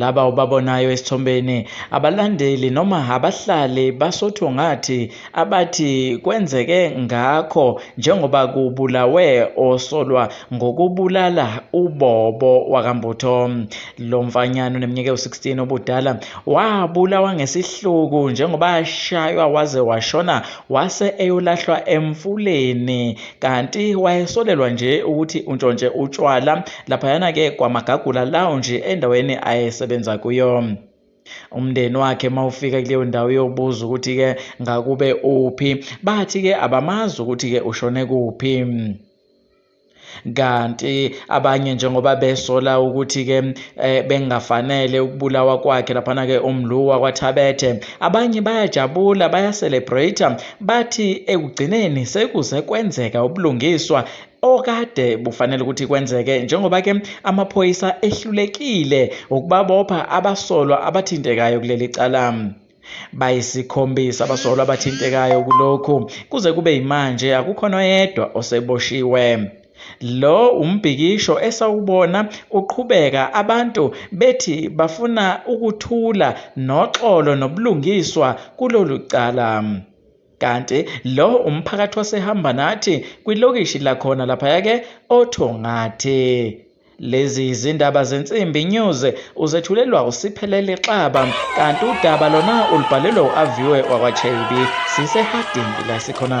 Laba obabonayo esithombeni abalandeli noma abahlali baSotho ngathi abathi kwenzeke ngakho njengoba kubulawe osolwa ngokubulala uBobo wakaMbutho. Lo mfanyana oneminyaka ewu-16 obudala wabulawa ngesihluku njengoba ashaywa waze washona wase eyolahlwa emfuleni kanti wayesolelwa nje ukuthi untshontshe utshwala laphayana-ke kwamagagula lounge endaweni ayesebenza kuyo umndeni wakhe mawufika kuleyo ndawo yobuza ukuthi-ke ngakube uphi bathi-ke abamazi ukuthi-ke ushone kuphi kanti abanye njengoba besola ukuthi-ke eh, bengafanele ukubulawa kwakhe laphana-ke umlu wakwathabethe abanye bayajabula bayacelebrate bathi ekugcineni sekuze kwenzeka ubulungiswa okade bufanele ukuthi kwenzeke njengoba ke amaphoyisa ehlulekile ukubabopha abasolwa abathintekayo kuleli cala bayisikhombisa abasolwa abathintekayo kulokhu kuze kube yimanje akukho noyedwa oseboshiwe Lo wumbhikisho esawubona uqhubeka abantu bethi bafuna ukuthula noxolo nobulungiswa kulolu cala. Kanti lo umphakathi wasehamba nathi kwilokishi lakhona laphaya ke oThongathi. Lezi yizindaba zensimbi news uzethulelwa usiphelele xaba kanti udaba lona ulibhalelwe u-aviwe wakwachebi siseharding la sikhona